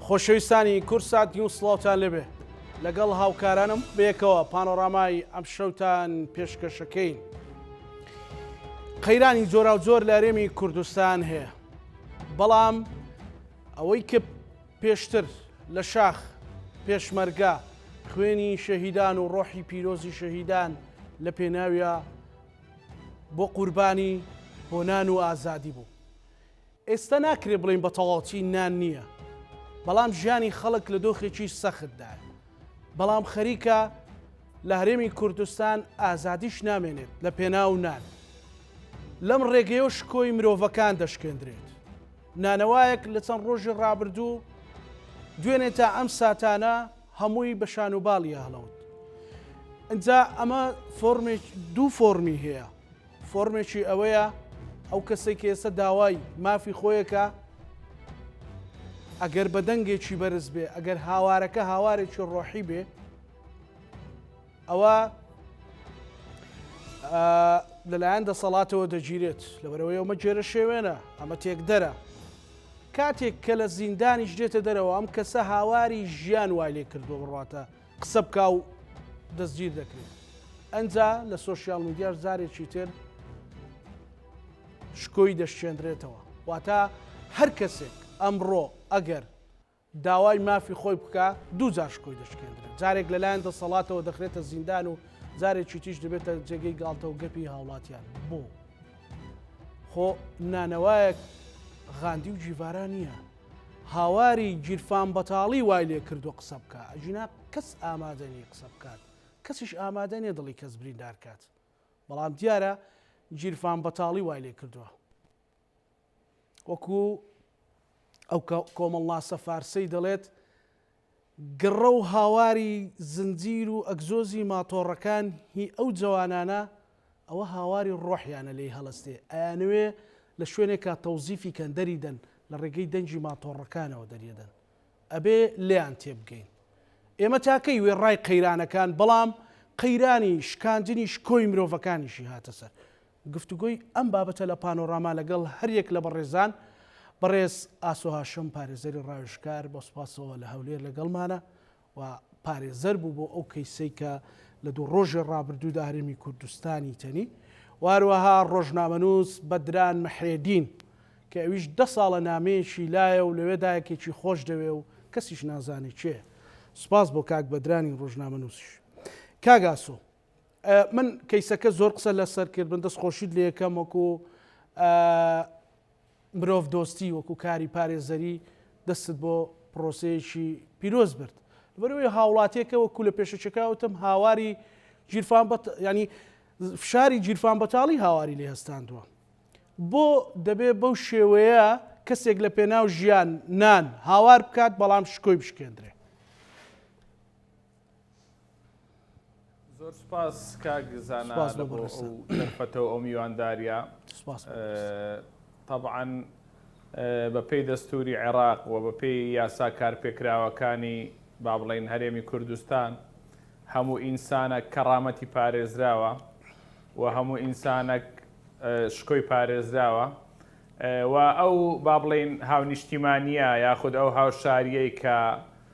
خۆشەویستانی کورسات نیو سڵاوتان لەبێ لەگەڵ هاوکارانم بێکەوە پانۆڕامای ئەم شەوتان پێشکەشەکەین قەیرانی جۆرا و جۆر لە هەرێمی کوردستان هەیە بەڵام ئەوەی کە پێشتر لە شاخ پێشمەرگە خوێنی شەهیدان و ڕۆحی پیرۆزی شەهیدان لە پێناویە بۆ قوربانی بۆ نان و ئازادی بوو ئێستا ناکرێ بڵین بە تەواوچی نان نییە بەڵام ژیانی خەڵک لە دۆخێکی سەختدا بەڵام خەریکە لە هەرێمی کوردستان ئازادیش نامێنێت لە پێناو نان لەم ڕێگەیە شکۆی مرۆڤەکان دەشکێندرێت نانەوایەک لە چەند ڕۆژی ڕابردوو دوێنێ تا ئەم ساتانە هەمووی بە شان و باڵی هەڵەوت ئەجا ئەمە فۆرمێک دوو فۆرمی هەیە فۆرمێکی ئەوەیە ئەو کەسێک ئێستا داوای مافی خۆیەکە ئەگەر بە دەنگێکی بەرز بێ ئەگەر هاوارەکە هاوارێکی ڕۆحی بێ ئەوە لەلایەن دەسەڵاتەوە دەگیرێت لەبەرەوەی ئەومە گێرە شێوێنە ئەمە تێکدەرە کاتێک کە لە زیندانیش دێتە دەرەوە ئەم کەسە هاواری ژیان وای لێ کردو بڕاتە قسە بکە و دەستگیر دەکرێت ئەجا لە سوۆسیال میدیاش زارێکی تر شکۆی دەشێنرێتەوە واتە هەر کەسێک ئەمڕۆ ئەگەر داوای مافی خۆی بکا دوو جار شکۆی دەشکێندرێت جارێک لەلایەن دەسەڵاتەوە دەخرێتە زیندان و جارێکی تیش دەبێتە جێگەی گاڵتە و گەپی هاوڵاتیان بۆ خۆ نانەوایەک غاندی و جیڤارا نییە هاواری گیرفان بەتاڵی وای لێ کردو قسە بکە ئەژینا کەس ئامادەنی قسە بکات کەسیش ئامادەنێ دڵی کەس بریندارکات بەڵام دیارە گیرفان بەتاڵی وای لێ کردووە وەکو ئەو کۆمەڵناسە فارسەی دەڵێت، گڕە و هاواری زنجیر و ئەگزۆزی ماتۆڕەکان هی ئەو جەوانانە ئەوە هاواری ڕۆحیانە لێی هەڵەستێ، ئەیانەوێ لە شوێنێکا تەوزیفی کەن دەریدەن لە ڕێگەی دەنگی ماتۆڕەکانەوە دەریەدەن. ئەبێ لێیان تێبگەین. ئێمە تاکەی وێڕای قەیرانەکان بەڵام قەیرانی شکاندنی شکۆی مرۆڤەکانیشی هاتە سەر. گفتوگۆی ئەم بابەتە لە پانۆراما لەگەڵ هەریەک لە بەڕێزان، بەڕێز ئاسۆ هاشم پارێزەری ڕاوێژکار بە سوپاسەوە لە هەولێر لەگەڵمانە و پارێزەر بوو بۆ ئەو کەیسەی کە لە دوو ڕۆژی ڕابردوودا هەرێمی کوردستانی تەنی و هەروەها ڕۆژنامەنووس بەدران محرێدین کە ئەویش دە ساڵە نامەیەکی لایە و لەوێدا یەکێکی خۆش دەوێ و کەسیش نازانێ کێیە سوپاس بۆ کاک بەدرانی ڕۆژنامەنووسیش کاک ئاسۆ من کەیسەکە زۆر قسە لەسەر کرد من دەست خۆشیت لەکەم وەکو مرۆڤ دۆستی وەکو کاری پارێزەری دەستت بۆ پرۆسەیەکی پیرۆز برد بەروی هاوڵاتێکە وەکو لە پێشەکەوتم هاواری گیرفان ینی فشاری گیرفان بەتاڵی هاواری لێ هەستاندووە بۆ دەبێ بەو شێوەیە کەسێک لە پێناو ژیان نان هاوار بکات بەڵام شکۆی بشکێندرێ زۆر سوپاس کاک زانا سوپاس بۆ بڕێز ئەو دەرفەتە و ئەو میوانداریە سوپاس بۆ بڕێز تەبعەن بەپێی دەستوری عێراق و بەپێی یاسا کارپێکراوەکانی با بڵێین هەرێمی کوردستان هەموو ئینسانە کەڕامەتی پارێزراوە و هەموو ئینسانەک شکۆی پارێزراوە و ئەو با بڵێین هاونیشتیمانە یاخود ئەو هاوشاریەی کە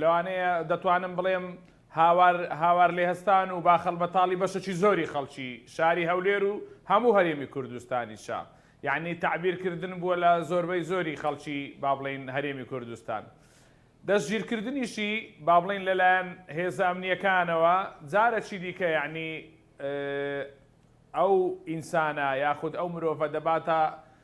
لەوانەیە دەتوانم بڵێم هاوار هاوار لێ هەستان و باخەڵ بەتاڵی بەشەکی زۆری خەڵکی شاری هەولێر و هەموو هەرێمی کوردستانی شا یعنی تعبیرکردن بووە لە زۆربەی زۆری خەڵکی با بڵین هەرێمی کوردستان دەستگیرکردنیشی با بڵین لەلایەن هێزە ئەمنیەکانەوە جارەکی دیکە یعنی ئەو ئینسانە یاخود ئەو مرۆڤە دەباتە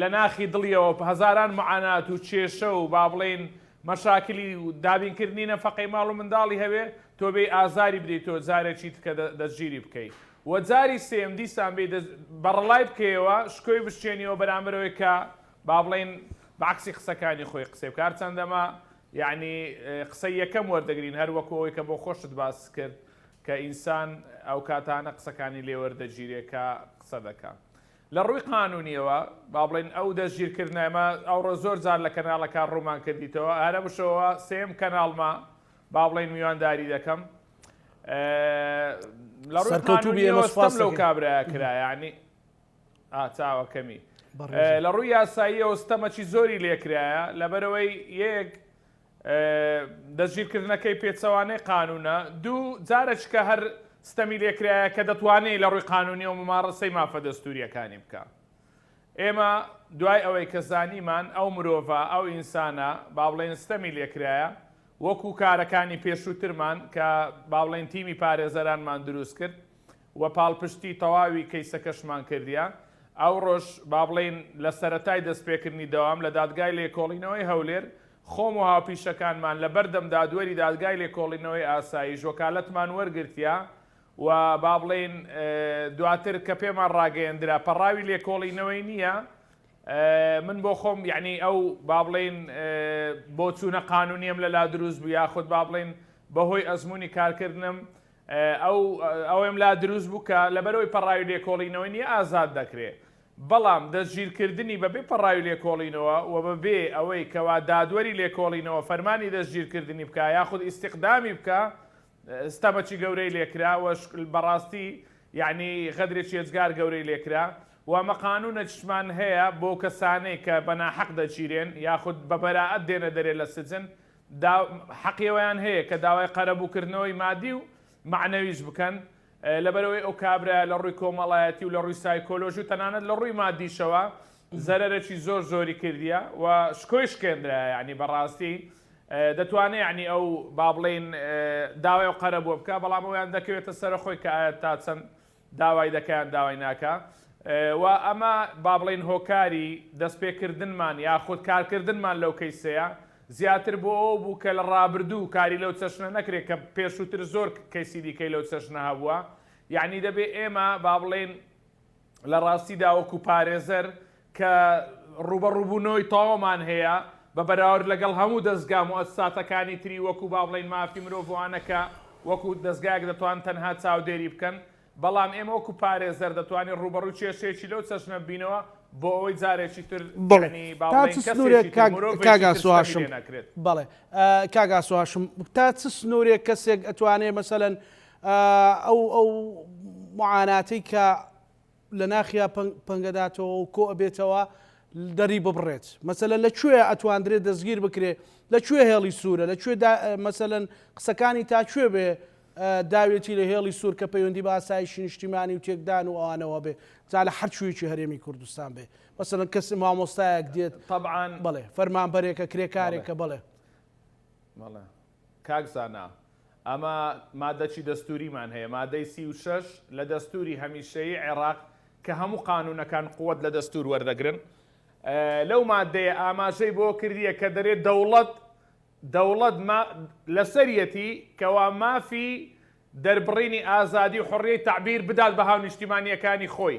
لە ناخی دڵیەوە هەزاران معانات و کێشە و با بڵێین مەشاکلی و دابینکردنی نەفەقەی ماڵ و منداڵی هەبێ، تۆ بێی ئازاری بدەیتەوە جارێکی تکە دەستگیری بکەی و جاری سێیەم دیسان بێی بەڕەڵای بکەیەوە شکۆی بشکێنیەوە بەرامبەر ئەوەی کە با بڵێین بە عەکسی قسەکانی خۆی قسەی بکا هەرچەندە ئەمە یەعنی قسەی یەکەم وەردەگرین هەر وەکو ئەوەی کە بۆ خۆشت باست کرد کە ئینسان ئەو کاتانە قسەکانی لێ وەردەگیرێ کە قسە دەکا. لە ڕووی قانونیەوە با بڵێین ئەو دەستگیرکردنە ئێمە ئەوڕۆ زۆر جار لە کەناڵەکان ڕوومان کردیتەوە هەرە بشەوە سێم کەناڵمە با بڵێین میوانداری دەکەم لە ڕووی قانونیەوە ستەم لەو کابراە کرا یعنی ئاچاوەکەمی لە ڕووی یاسایی ئەوستەمەکی زۆری لێکرایە لەبەرەوەی یەک دەستگیرکردنەکەی پێچەوانەی قانوونە، دوو جارەکیکە هەر ستەمی لێ کرایە کە دەتوانێ لە ڕووی قانوونییەوە موماڕەسەی مافە دەستوورییەکانی بکا. ئێمە دوای ئەوەی کە زانیمان ئەو مرۆڤە، ئەو ئینسانە با بڵێین ستەمی لێ کرایە، وەکوو کارەکانی پێشووترمان کە با بڵێین تیمی پارێزەرانمان دروست کرد، و پاڵپشتی تەواوی کەیسەکەشمان کردیە. ئەوڕۆش با بڵێین لە سەرەتای دەستپێکردنی دەوام لە دادگای لێکۆڵینەوەی هەولێر، خۆم و هاوپیشەکانمان لە بەردەم دادوەری دادگای لێکۆڵینەوەی ئاسایش وەکالەتمان وەرگرتیە و با بڵێین دواتر کە پێمان ڕاگەیەندرا پەڕاوی لێکۆڵینەوەی نییە، من بۆ خۆم یەعنی ئەو با بڵێین بۆچوونە قانوونیەم لەلا دروست بوو یاخود با بڵێین بەهۆی ئەزموونی کارکردنم ئەو ئەوەم لا دروست بوو کە لەبەرەوەی پەڕاوی لێکۆڵینەوەی نییە ئازاد دەکرێ، بەڵام دەستگیرکردنی بەبێ پەڕاوی لێکۆڵینەوە و بەبێ ئەوەی کەوا دادوەری لێکۆڵینەوە فەرمانی دەستگیرکردنی بکا یاخود ئیستیقدامی بکا ستەمەکی گەورەی لێکرا و بەڕاستی یەعنی غەدرێکی ئێجگار گەورەی لێکرا و ئەمە قانوونێکیشمان هەیە بۆ کەسانەی کە بەناحەق دەگیرێن یاخود بەبەرائەت دێنە دەرێ لە سجن دا حەقی ئەوەیان هەیە کە داوای قەرەبوو کردنەوەی مادی و مەعنەویش بکەن لەبەرئەوەی ئەو کابرایە لە ڕووی کۆمەڵایەتی و لە ڕووی سایکۆلۆژی و تەنانەت لە ڕووی مادیشەوە زەرەرەکی زۆر زۆری کردیە و شکۆی شکێندرایە یانی بەڕاستی دەتوانێ یانی ئەو با بڵێین داوای ئەو قەرەبووە بکا بەڵام ئەویان دەکەوێتە سەرە خۆی کە ئایا تا چەند داوای دەکا یان داوای ناکا و ئەمە با بڵێین هۆکاری دەستپێکردنمان یاخود کارکردنمان لەو کەیسەیە زیاتر بۆ ئەوە بوو کە لە ڕابردوو کاری لەو چەشنە نەکرێت کە پێشووتر زۆر کەیسی دیکەی لەو چەشنە هەبووە یەعنی دەبێ ئێمە با بڵێین لە ڕاستیدا وەکوو پارێزەر کە ڕووبەڕووبوونەوەی تەواومان هەیە بە بەراورد لەگەڵ هەموو دەزگا موئەسساتەکانی تری وەکو با بڵێین مافی مرۆڤوانە کە وەکو دەزگایەک دەتوان تەنها چاودێری بکەن بەڵام ئێمە وەکو پارێزەر دەتوانین ڕووبەڕووی کێشەیەکی لەو چەشنە ببینەوە بۆ ئەوەی جارێکی تر یانی با بڵێین کەسێکی تر مرۆڤێکی تر ستەمی لێ نەکرێت. بەڵێ کاک ئاسۆ هاشم تا چ سنوورێک کەسێک ئەتوانێ مەسەلەن ئەو ئەو معاناتەی کە لە ناخیا پەنگەداتەوە و کۆ ئەبێتەوە دەری ببڕێت مەسەلەن لە کوێ ئەتواندرێت دەستگیر بکرێ لە کوێ هێڵی سوورە لە کوێ مەسەلەن قسەکانی تا کوێ بێ داوێتی لە هێڵی سوور کە پەیوەندی بە ئاسایشی نیشتیمانی و تێکدان و ئەوانەوە بێ جا لە هەرچوویەکی هەرێمی کوردستان بێ مەسەن کەس مامۆستایەک دێت طبعاان بڵێ فەرمانبەرێکە کرێکارێکە بڵێ کاک زانا، ئەمە مادەچی دەستووریمان هەیە، مادەی سی و شەش لە دەستووری هەمیشەیی عێراق کە هەموو قانوونەکان قوت لە دەستوور وەردەگرن، لەو مادەیە ئاماژەی بۆ کردییە کە دەرێ دەوڵەت دەوڵەت لەسەریەتی کەوا مافی دەربڕینی ئازادی و حڕیەی تەعبیر بدات بە هاونیشتیمانییەکانی خۆی.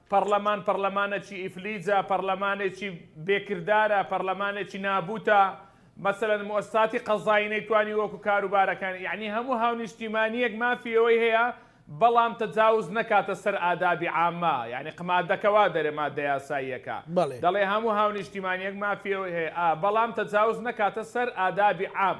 پەڕلەمان پەڕلەمانەکی ئیفلیجە، پەڕلەمانێکی بێ کردارە، پەڕلەمانێکی نابووتە، مەسەلەن موئەسساتی قەزایی نەیتوانی وەکو کاروبارەکانی، یەعنی هەموو هاونیشتیمانییەک مافی ئەوەی هەیە بەڵام تەجاوز نەکاتە سەر ئادابی عامە، یەعنی قمادەکە وا دەرێ ماددە یاساییەکە بەڵێ. دەڵێ هەموو هاونیشتیمانییەک مافی ئەوەی هەیە ئا بەڵام تەجاوز نەکاتە سەر ئادابی عام.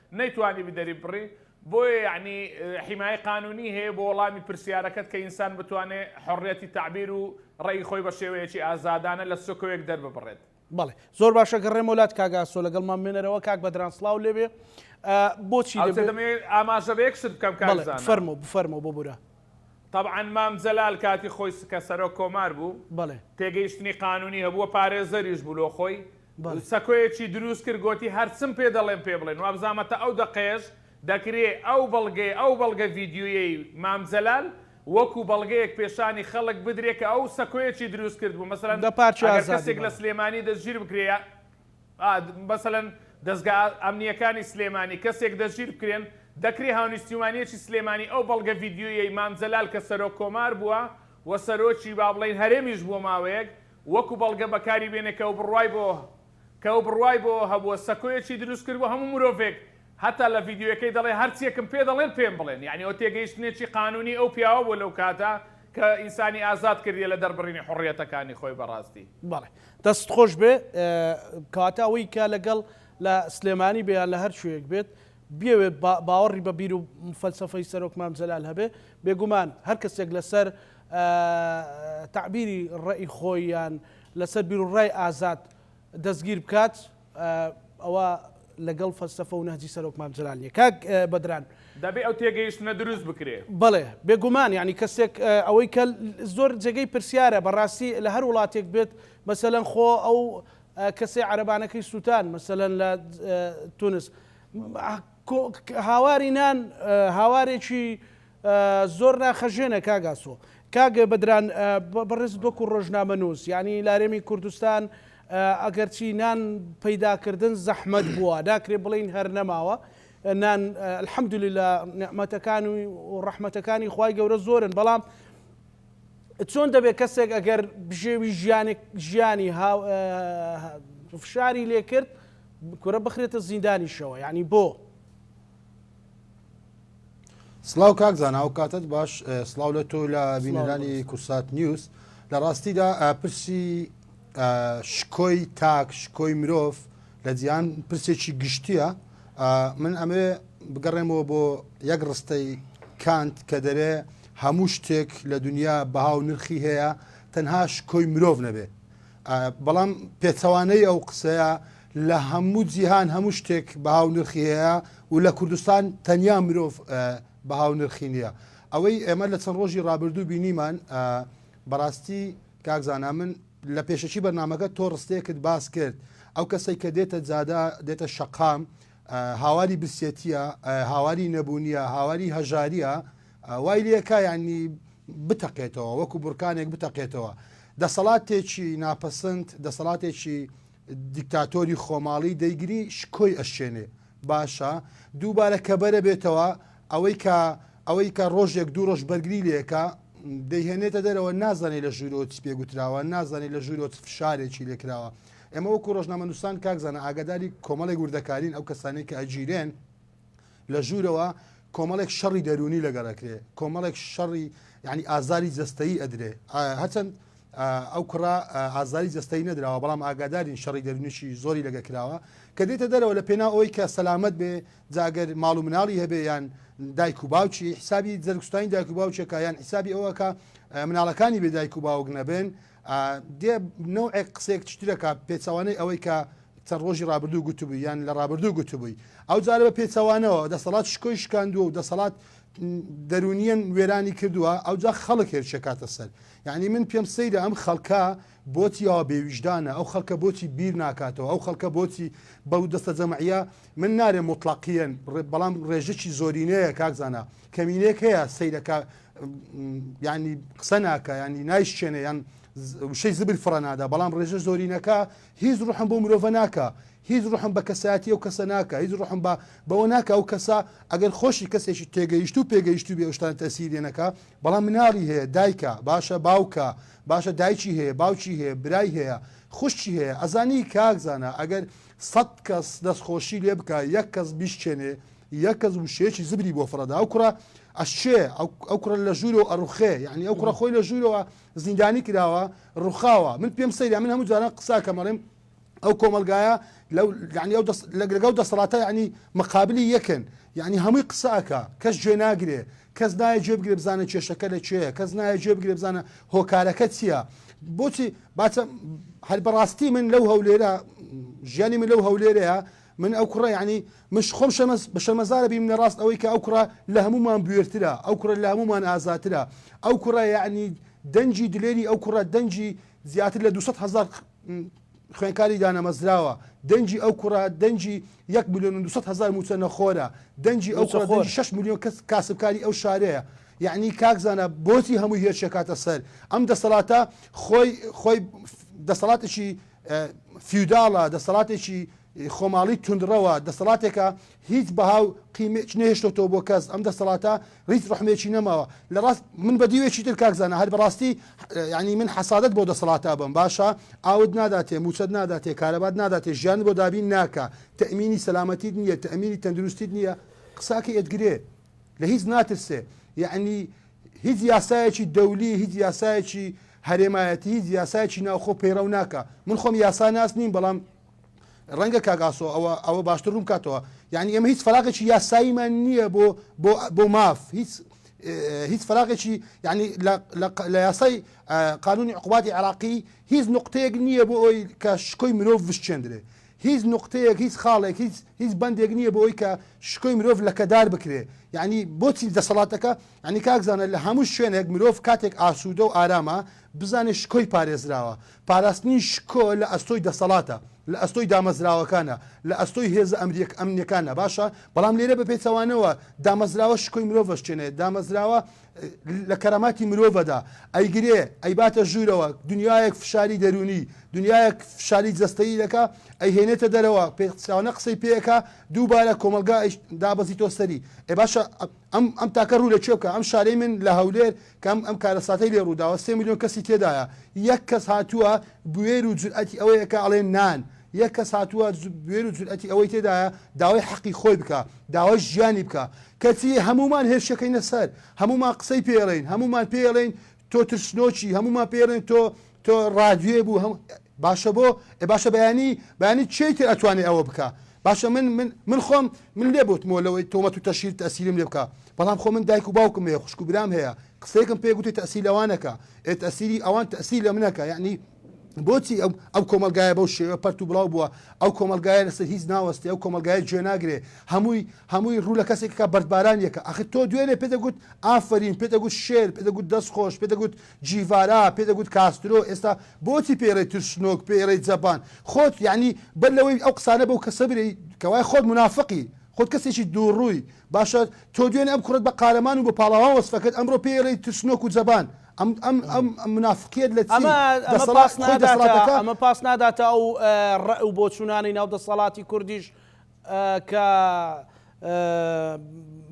نەیتوانیبی دەریببڕی بۆیە یەعنی حیمایەی قانونی هەیە بۆ وەڵامی پرسیارەکەت کە ئینسان بتوانێ حوڕیەتی تەعبیر و ڕەئی خۆی بە شێوەیەکی ئازادانە لە سکۆیەک دەرببڕێت. بەڵێ زۆر باشە گەڕێمەوە لات کاک ئاسۆ لەگەڵمان بمێنەرەوە کاک بەدران سڵاو لێبێ بۆچی دەبێ. ئەوچە دەمەوێ ئاماژە بە یەک شت بکەم کاک زانا. بەڵێ بفەرموو بفەرموو ببورە. تەبعەن مام جەلال کاتی خۆی کە سەرۆک کۆمار بوو بەڵێ پێگەیشتنی قانونی هەبوو و پارێزەریش بوو لۆ خۆی سەکۆیەکی دروست کرد گۆتی، هەرچم پێ دەڵێم پێ بڵێن، وابزامە تا ئەو دەقەیەش دەکرێ ئەو بەڵگەی ئەو بەڵگە ڤیدیۆیەی مام جەلال وەکو بەڵگەیەک پێشانی خەڵک بدرێ کە ئەو سەکۆیەکی دروست کردبوو مەسەلەن ئەگەر کەسێک لە سلێمانی دەستگیر بکرێ یا مەسەلەن دەزگا ئەمنیەکانی سلێمانی کەسێک دەستگیر بکرێن دەکرێ هاونیشتیمانیەکی سلێمانی ئەو بەڵگە ڤیدیۆیەی مام جەلال کە سەرۆک کۆمار بووە و سەرۆکی با بڵێن هەرێمیش بۆ ماوەیەک وەکو بەڵگە بەکاری بێنێ کە بڕوای بۆ کە ئەو بڕوای بۆ ئەوە هەبووە سەکۆیەکی دروست کردووە هەموو مرۆڤێک هەتا لە ڤیدیۆیەکەی دەڵێ هەرچیەکم پێ دەڵێن پێم بڵێن یانی ئەوە تێگەیشتنێکی قانونی ئەو پیاوە بووە لەو کاتە کە ئینسانی ئازاد کردیە لە دەربڕینی حوڕیەتەکانی خۆی بەڕاستی. بەڵێ دەستت خۆش بێ کەواتە ئەوەی کە لەگەڵ لە سلێمانی بێ یان لە هەر کوێیەک بێت بیەوێت باوەڕی بە بیر و فەلسەفەی سەرۆک مام جەلال هەبێت، بێگومان هەر کەسێک لەسەر تەعبیری ڕەئی خۆی یان لەسەر بیروڕای ئازاد دەستگیر بکات ئەوە لەگەڵ فەلسەفە و نەهجی سەرۆک مام جەلال نییە. کاک بەدران. دەبێت ئەو تێگەیشتنە دروست بکرێت. بەڵێ، بێگومان یانی کەسێک ئەوەی کە زۆر جێگەی پرسیارە بەڕاستی لە هەر وڵاتێک بێت مەسەلەن خۆ ئەو کەسەی عەرەبانەکەی سووتان مەسەلەن لە تونس، هاواری نان هاوارێکی زۆر ناخەژێنە کاگاسۆ کاگە بەدران بەڕێزت وەکو ڕۆژنامە نووس یعنی لارێمی کوردستان ئەگەرچی نان پەیداکردن زەحمەت بووە داکرێ بڵین هەر نەماوە نان الحەمدلی لە نعممەتەکان و ڕەحمەتەکانی خی گەورە زۆرن بەڵام چۆن دەبێت کەسێک ئەگەر بژێوی ژیانێک ژیانی فشاری لێ کرد کورە بخرێتە زیندانیشەوە ینی بۆ سلااو کاک زانناو کاتت باش سلااو لە تۆ لە بینەرانی کورسات نیوز لە ڕاستیدا پرسی شکۆی تاک شکۆی مرۆڤ لە جیان پرسێکی گشتیە من ئەمێ بگەڕێمەوە بۆ یەک ڕستەی کانت کە دەرێ هەموو شتێک لە دونیا بەها و نرخی هەیە تەنها شکۆی مرۆڤ نەبێ بەڵام پێچەوانەی ئەو قسەیە لە هەموو جیهان هەموو شتێک بەها و نرخی هەیە و لە کوردستان تەنیا مرۆڤ بەها و نرخی نییە ئەوەی ئێمە لە چەند ڕۆژی ڕابردوو بینیمان بەڕاستی کاکزانا من لە پێشەکی بەرنمەکە تۆ ڕستێکت باس کرد ئەو کەسێک کە دێتە جادا دێتە شەقام هاواری برسێتیە هاواری نەبوونیە هاواری هەژاریە وای لەکە یعنی بتەقێتەوە وەکو بورکانێک بتەقێتەوە دەسەڵاتێکی ناپەسند دەسەڵاتێکی دیکتاتۆری خۆماڵی دەیگری شکۆی ئەشێنێ باشە دووبارە کە بەرە بێتەوە ئەوەی کە ئەوەی کە ڕۆژێک دوو ڕۆژ بەرگری لەکە دەیهێنێتە دەرەوە نازانێت لە ژوورۆ پێگوتراوە نازانێت لە ژوورۆ فشارێکی لێکراوە ئێمە وەکو ڕۆژنامەنووسان کاک زانا ئاگاداری کۆمەڵێک وردەکارین ئەو کەسانی کە ئەگیرێن لە ژوورەوە کۆمەڵێک شەڕی دەرونی لەگەڵەکرێ کۆمەڵێک شەڕی ینی ئازاری جستایی ئەدرێ هەچەند ئەو کوڕا ئازاری جستایی نەدراوە بەڵام ئاگادارین شەڕی دەرونیشی زۆری لەگە کراوە کە دێتە دەرەوە لە پێنا ئەوی کە سەلامت بێ جاگەر ماڵ و مناڵی هەبێ یان دایک و باوکی حسابی جەرگستانی دایک و باوچەکە یان حسابی ئەوەکە مناڵەکانی بێ دایک و باوک نەبێن دێ نەوعێک قسەیەک چترەکە پێچوانەی ئەوەی کە چەند ڕۆژی ڕابردوو گوتبوو یان لە ڕابردوو گوتبووی ئەو جارە بە پێچەوانەوە دەسەڵات شکۆی شکاندووە و دەسەڵات دەرونیان وێرانی کردووە ئەو جا خەڵک هێرشەکاتە سەر یعنی من پێم سەیرە ئەم خەڵکە بۆچی یاوە بێویژدانە ئەو خەڵکە بۆچی بیر ناکاتەوە ئەو خەڵکە بۆچی بەو دەستە جەمعە من نارێ مطلقیەن بەڵام ڕێژەی زۆرینەیە کاکزانە کەمینێک هەیە سیرەکە یعنی قسە ناکە ینی نایشچێنە یان وشەی زبر فڕە نادا بەڵام ڕێژە زۆرینەکە هیچ ڕحم بۆ مرۆڤە ناکە هیچ ڕحم بە کەسایەتی ئەو کەسە ناکە هیچ ڕحم بە بەوە ناکە ئەو کەسە ئەگەر خۆشی کەسێکی تێگەیشت و پێگەیشت و بێشتان تەسیرێنەکە بەڵام مناڵی هەیە دایکە باشە باوکە باشە دایکی هەیە باوکی هەیە برای هەیە خوشتی هەیە ئەزانی کاک زانە ئەگەر سەد کەس دەستخۆشی لێ بکە یەک کەس بیشچێنێ یەک کەس وشەیەکی زبری بۆ فڕەدا ئەو کوڕە ئەشێ ئەو کوڕە لە ژوورەوە ئەڕوخێ یعنی ئەو کوڕە خۆی لە ژوورەوە زیندانی کراوە ڕوخاوە من پێم سەیرە من هەموو جاران قساکەمەڵێم ئەو کۆمەلگایە لەو ینی ئەو لەگەڵ دەسەڵاتە ینی مەقابلی یەکن یعنی هەمووی قسەکە کەس جێ ناگرێ کەس نایە جێ بگرێ بزانە کێشەکە لە چێە کەس نایە جێ بگرێ بزانە هۆکارەکە چییە بۆچی باچە هەر بەڕاستی من لەو هەولێرە ژیانی من لەو هەولێرەیە من ئەو کوڕە یانی مش خۆم شەرمەز بە شەرمەزارە بیم لە ڕاست ئەوەی کە ئەو کوڕە لە هەموومان بوێرترە ئەو کوڕە لە هەموومان ئازاترە ئەو کوڕە یانی دەنگی دلێری ئەو کوڕە دەنگی زیاتر لە دوو سەد هەزار خوێنکاری دانەمەزراوە دەنگی ئەو کوڕە دەنگی یەک میلیۆن و دوو سەد هەزار موچە نەخۆرە دەنگی ئەو کوڕە دەنگی شەش میلیۆن کەس کاسبکاری ئەو شارەیە یعنی کاک زانە بۆچی هەموو هێرشێکاتە سەر ئەم دەسەڵاتە خۆی خۆی دەسەڵاتێکی فیوداڵە، دەسەڵاتێکی خۆماڵی توندڕەوە، دەسەڵاتێکە هیچ بەها و قیمەیەکی نەهێشتۆتەوە بۆ کەس، ئەم دەسەڵاتە هیچ ڕەحمێکی نەماوە، لە ڕاست من بە دیوێکی تر کاک زانا هەر بەڕاستی یانی من حەسادت بۆ دەسەڵاتا بم باشە ئاوت ناداتێ موچەت ناداتێ کارەبات ناداتێ ژیانت بۆ دابین ناکا تەئمینی سەلامەتیت نیە تەئمینی تەندروستیت نیە قساکە ئێت گرێ لە هیچ ناترسێ یەعنی هیچ یاسایەکی دەولی هیچ یاسایەکی هەرێمایەتی هیچ یاسایەکی ناوخۆ پەیڕەو ناکە من خۆم یاسا ناس نیم بەڵام ڕەنگە کاگاسۆ ئەوە ئەوە باشتر ڕووم کاتەوە یعنی ئەمە هیچ فراغێکی یاساییمان نییە بۆ بۆ ماف هیچ هیچ فراغێکی یعنی لە یاسای قانونی عقوباتی عراقی هیچ نقطەیەک نییە بۆ ئەوی کە شکۆی مرۆڤ بشچێندرێ هیچ نوقتەیەک هیچ خاڵێک هیچ هیچ بەندێک نیە بۆ ئەوەی کە شکۆی مرۆڤ لەکەدار بکرێ یانی بۆچی دەسەڵاتەکە یانی کاک زانا لە هەموو شوێنێک مرۆڤ کاتێک ئاسوودە و ئارامە بزانێ شکۆی پارێزراوە پاراستنی شکۆ لە ئەستۆی دەسەڵاتە لە ئەستۆی دامەزراوەکانە لە ئەستۆی هێزە ئەمریەک ئەمنیەکانە باشە بەڵام لێرە بە پێچەوانەوە دامەزراوە شکۆی مرۆڤ ئەشکێنێ دامەزراوە لە کەراماتی مرۆڤەدا ئەیگرێ، ئەیباتە ژوورەوە، دنیایەک فشاری دەروونی، دنیایەک فشاری جەستەیی دەکا، ئەیهێنێتە دەرەوە، پێچەوانە قسەی پێ ئەکا، دووبارە کۆمەڵگا ئەی دابەزیتۆ سەری. ئێ باشە ئەم ئەم تاکە ڕوو لە کوێ بکا؟ ئەم شارەی من لە هەولێر کە ئەم ئەم کارەساتەی لێ ڕوو داوە، سێ ملیۆن کەسی تێدایە، یەک کەس هاتووە بوێر و جورئەتی ئەوەی ئەکا ئەڵێ نان، یەک کەس هاتووە بوێر و جورئەتی ئەوەی تێدایە داوای حەقی خۆی بکا، داوای ژیانی بکە کەچی هەموومان هێرشەکەینە سەر هەموومان قسەی پێڵێین هەموومان پێڵێین تۆ ترسنۆکی هەموومان پێڵێن تۆ تۆ ڕادوێ بوو هەم باشە بۆ ئێ باشە بەیانی بەیانی چی تر ئەتوانێ ئەوە بکە باشە من من من خۆم من لێ بوتمەوە لەوەی تۆمەت و تەشیر تەسیرم لێ بکە بەڵام خۆ من دایک و باوکم هەیە خوشک و برام هەیە قسەیەکم پێ گوتێ تەسیل لەوانەکە ئێ تەسیری ئەوان تەسیل لە منەکە یعنی بۆچی ئەم کۆمەلگایە بەو شێوە پەرت و بڵاو بووە ئەو کۆمەلگایە لەسەر هیچ ناوەستی ئەو کۆمەلگایە جوێ ناگرێ هەمووی هەمووی ڕوو لە کەسێکەکە بەردباران یەکە ئەخ تۆ دوێنێ پێ دەگوت ئافرین پێ دەگوت شێر پێ دەگوت دەست خۆش پێ دەگوت جیڤارا پێ دەگوت کاسترۆ ئێستا بۆچی پێی ڕێی ترسنۆک پێی ڕێی جەبان خۆت یعنی بەر لەوەی ئەو قسانە بەو کەسە برێی کەوای خۆت منافقی خۆت کەسێکی دووڕووی باشە تۆ دوێنێ ئەم کوڕەت بە قارەمان و بە پاڵەوان وەسفەکرد ئەمڕۆ پێی ڕێی ترسنۆک و جەبان ئەم ئەم ئەم منافقیەت لە چی؟ دەسەڵات خۆی دەسەڵاتەکە ئەمە پاس ناداتە ئەو ڕئ و بۆچوونانەی ناو دەسەڵاتی کوردیش کە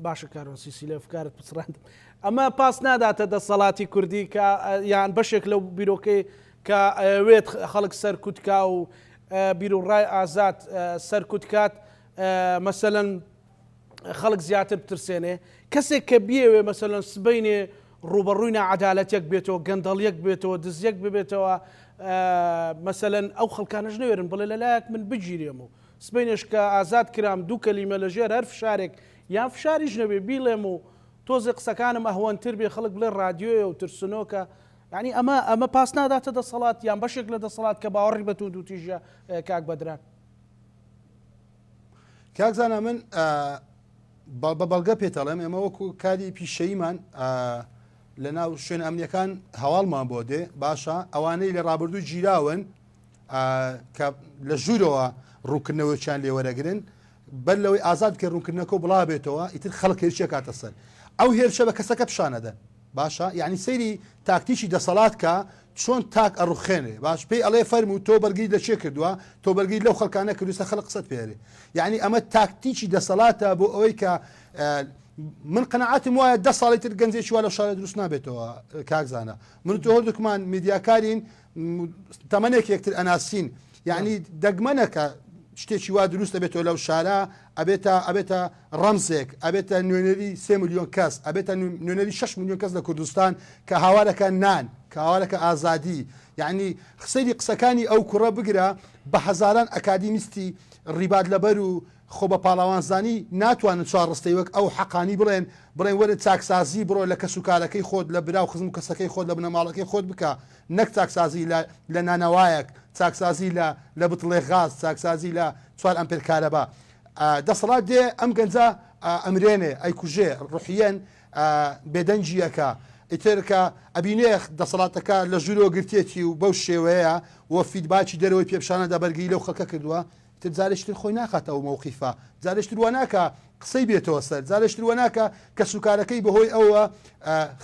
باشە کارۆن سیسی لە فکارت پچڕاند ئەمە پاس ناداتە دەسەڵاتی کوردی کە یان بەشێک لەو بیرۆکەی کە ئەوێت خەڵک سەرکوتکا و بیر و ڕای ئازاد سەرکوتکات مەسەەن خەڵک زیاتر بترسێنێ، کەسێک کە بیەوێ مەسەلەن سبەینێ ڕووبەڕووی ناعەدالەتیەک بێتەوە، گەندەڵیەک بێتەوە، دزیەک ببێتەوە، مەسەلەن ئەو خەڵکانەش نەوێرن بڵێ لە لایەک من بگیرێم و سبەینێش کە ئازاد کرام دوو کەلیمە لە ژێر هەر فشارێک یان فشاریش نەبێ بیڵێم و تۆزێ قسەکانم ئەهوەنتر بێ خەڵک بڵێ ڕادیۆیە و ترسنۆکە، یانی ئەمە ئەمە پاس ناداتە دەسەڵات یان بەشێک لە دەسەڵات کە باوەڕی بە توندوتیژیە کاک بەدران؟ کاک زانا من بە بەڵگە پێتەڵێم ئێمە وەکو کاری پیشەیمان لە ناو شوێن ئەمنیەکان هەواڵمان بۆ دێ باشە ئەوانەی لە ڕابردوو گیراون کە لە ژوورەوە ڕووکردنەوەیان لێوەرەگرن بەر لەوەی ئازاد کە ڕوونکردنەکە بڵا بێتەوە ئیتر خەڵک هێرشە کاتە سەر ئەو هێرشە بە کەسەکە پیششانەدەن باشە یانی سەیری تاکتیکی دەسەڵات کە چۆن تاک ئەڕوخێنێ باش پێی ئەڵێ فەرموو تۆ بەرگری لە کێ کردووە تۆ بەرگری لەو خەڵکا نەکردوسە خەڵک قسەت پێرێ یعنی ئەمە تاکتیکی دەسەڵاتە بۆ ئەوەی کە من قەنەعاتم وایە دە ساڵی تر گەنجێکی وا لە شارە دروست نابێتەوە کاکزانە من تۆ هەردووکمان میدیاکارین تەمەنێک یەکتر ئەناسین یعنی دەگمەنە کە شتێکی وا دروستە بێتەوە لەو شارە ئەبێتە ئەبێتە ڕەمزێک ئەبێتە نوێنەری سێ میلیۆن کەس ئەبێتە نوێنەری 6 میلیۆن کەس لە کوردستان کە هاوارەکە نان کە هاوارەکە ئازادی یعنی خسەری قسەکانی ئەو کوڕە بگرە بە هەزاران ئەکادیمیستی ڕیبات لەبەر و خۆ بە پاڵەوانزانی ناتوانن چوار ڕستەی وەک ئەو حەقانی بڵێن، بڵێن وەرە چاکسازی بڕۆ لە کەسوکارەکەی خۆت، لە برا و خزم و کەسەکەی خۆت، لە بنەماڵەکەی خۆت بکە، نەک چاکسازی لە لە نانەوایەک، چاکسازی لە لە بتڵێک غاز، چاکسازی لە چوار ئەمپێر کارەبا. دەسەڵات دێ ئەم گەنجە ئەمرێنێ، ئەیکوژێ، ڕوحیەن بێدەنگی ئەکا. ئیتر کە ئەبینێ دەسەڵاتەکە لە ژوورەوە گرتێتی و بەو شێوەیە و فیدباکی دەرەوەی پێ پیشان ئەدا بەرگری لەو خەڵکە کردووە، تر جارێشتر خۆی ناخاتە ئەو مەوقیفە، جارێشتر وا ناکا قسەی بێتەوە سەر، جارێشتر وا ناکا کەسوکارەکەی بەهۆی ئەوەوە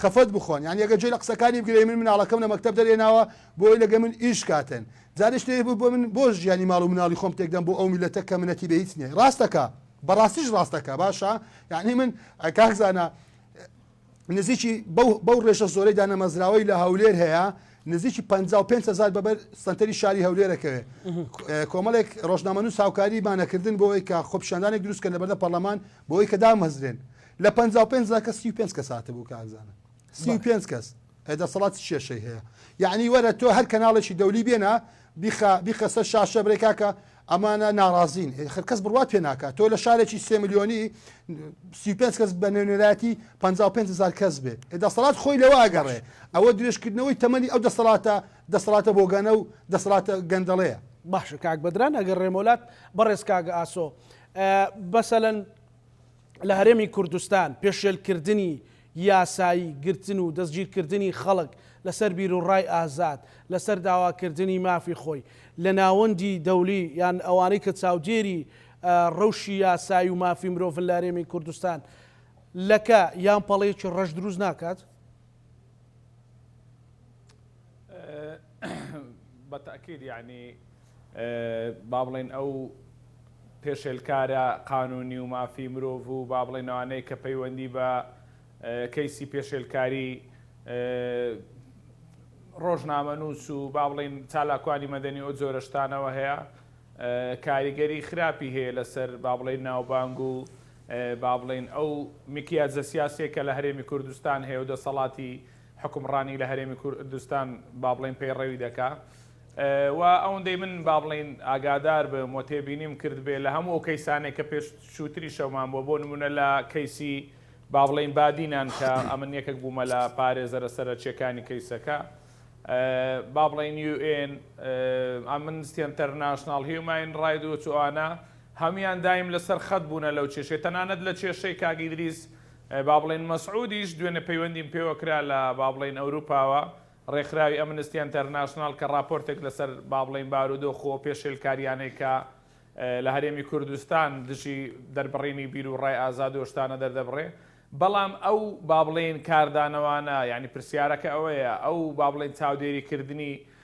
خەفەت بخۆن، یانی ئەگەر گوێ لە قسەکانی بگرێ، من مناڵەکەم لە مەکتەب دەرهێناوە بۆ ئەوەی لەگەڵ من ئیش کاتن، جارێشتر بۆ من بۆ ژیانی ماڵ و مناڵی خۆم تێکدەم بۆ ئەو میللەتە کە منەتی بە هیچ نییە. ڕاست دەکا، بەڕاستیش ڕاست دەکا، باشە یانی من کاک زانا نزیکی بەو بەو ڕێژە زۆرەی دانەمەزراوەی لە هەولێر هەیە نزیکی 55 هزار بەبەر سەنتەری شاری هەولێرەکەوێ کۆمەڵێک ڕۆژنامەنووس هاوکاری مانەکردن بۆی کە خۆپشاندانێک دروستکە لەبەردە پەرلەمان بۆی کە دامەزرێن لە 55 زاکە 35 کە ساتە بوو کاکزانە 35 کەس ئەی دەسەڵات چ کێشەی هەیە یەعنی وەرە تۆ هەر کەناڵێکی دەولی بێنە بیخە بیخە سەر شاشە برێ کاکە ئەمانە ناڕازین ئێ خەر کەس بڕوات پێ ناکات تۆ لە شارێکی سێ ملیۆنی سی و پێنج کەس بە نوێنەرایەتی پەنجا و پێنج هەزار کەس بێ ئێ دەسەڵات خۆی لەوە ئەگەڕێ باش ئەوە درێژکردنەوەی تەمەنی ئەو دەسەڵاتە دەسەڵاتە بۆگەنە و دەسەڵاتە گەندەڵەیە باشە کاک بەدران ئەگەر ڕێمۆلات بەڕێز کاک ئاسۆ اه، بەسەلەن، لە هەرێمی کوردستان پێشێلکردنی یاسایی گرتن و دەستگیرکردنی خەڵک لەسەر بیروڕای ئازاد لەسەر داواکردنی مافی خۆی لە ناوەندی دەولی یان ئەوانەی کە چاودێری رەوشی یاسایی و مافی مرۆڤن لە هەرێمی کوردستان لەکە یان پەڵەیەکی رەش دروست ناکات؟ بە تەئکید یەعنی با بڵێین ئەو پێشێلکارە قانونی و مافی مرۆڤ و با بڵێین ئەوانەی کە پەیوەندی بە کەیسی پێشێلکاری ڕۆژنامەنووس و با بڵێین چالاکوانی مەدەنی ئەو جۆرە شتانەوە هەیە کاریگەری خراپی هەیە لەسەر با بڵێین ناوبانگ و با بڵێین ئەو میکیاجە سیاسییەی کە لە هەرێمی کوردستان هەیە و دەسەڵاتی حوکمڕانی لە هەرێمی کوردستان با بڵێین پەیڕەوی دەکا و ئەوەندەی من با بڵێین ئاگادار بم و تێبینیم کردبێ لە هەموو ئەو کەیسانێک کە پێش چووتری شەومان بووە بۆ نمونە لە کەیسی با بڵێین بادینان کە ئەمن یەکێک بوومە لە پارێزەرە سەرەکیەکانی کەیسەکە با بڵێن یو ئێن ئەمن ئینتەرناشناڵ هیوماین ڕاید و ئەوانە هەموویان دایم لەسەر خەت بوونە لەو کێشەی تەنانەت لە کێشەی کاک ئیدریس با بڵێین مەسعودیش دوێنێ پەیوەندیم پێوە کرا لە با بڵێین ئەوروپاوە ڕێکخراوی ئەمنستی ئەنتەرناشناڵ کە ڕاپۆرتێک لەسەر با بڵێین بارودۆخ و پێشێلکاریانەی کە لە هەرێمی کوردستان دژی دەربڕینی بیر و ڕای ئازاد و شتانە دەردەبڕێ بەڵام ئەو با بڵێین کاردانەوانە یانی پرسیارەکە ئەوەیە ئەو با بڵێین چاودێریکردنی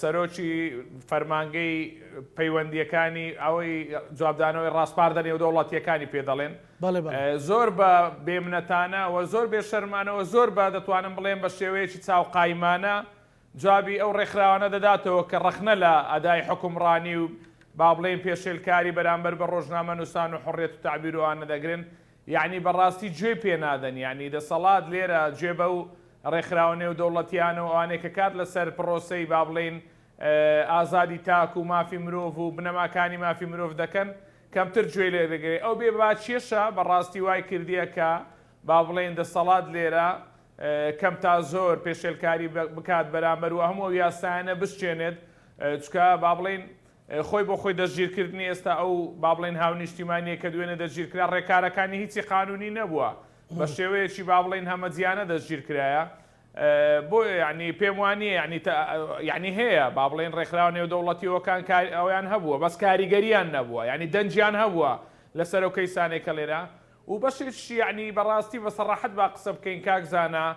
سەرۆکی فەرمانگەی پەیوەندییەکانی ئەوەی جوابدانەوەی ڕاسپاردە نێودەوڵەتییەکانی پێ دەڵێن زۆر بە بێمنەتانە و زۆر بێ شەرمانە و زۆر بە دەتوانم بڵێم بە شێوەیەکی چاو قایمانە جوابی ئەو ڕێکخراوانە دەداتەوە کە ڕەخنە لە ئەدای حوکمڕانی و با بڵێین پێشێلکاری بەرامبەر بە ڕۆژنامەنووسان و حوڕیەت و تەعبیر و ئانە دەگرن یەعنی بەڕاستی گوێی پێ نادەن یەعنی دەسەڵات لێرە گوێ بەو ڕێکخراوە نێودەوڵەتیانە و ئەوانەی کە کار لەسەر پڕۆسەی با بڵێین ئازادی تاک و مافی مرۆڤ و بنەماکانی مافی مرۆڤ دەکەن کەمتر گوێی لێ دەگرێ ئەو بێ باکیەشە بەڕاستی وای کردیە کە با بڵێین دەسەڵات لێرە کەم تا زۆر پێشێلکاری بکات بەرامبەر و هەموو ئەو یاسایانە بشکێنێت چکە با بڵێین خۆی بۆ خۆی دەستگیرکردنی ئێستا ئەو با بڵێین هاونیشتیمانییە کە دوێنێ دەستگیرکرا ڕێکارەکانی هیچی قانونی نەبووە بە شێوەیەکی با بڵێین هەمەجیانە دەستگیرکرایە بۆیە یانی پێم وانییە یانی یانی هەیە با بڵێین ڕێکخراوە نێودەوڵەتیەوەکان کار ئەویان هەبووە بەس کاریگەریان نەبووە یانی دەنجیان هەبووە لەسەر ئەو کەیسانێک کە لێرە و بەشێکشی یانی بەڕاستی بە سەڕاحەت با قسە بکەین کاک زانا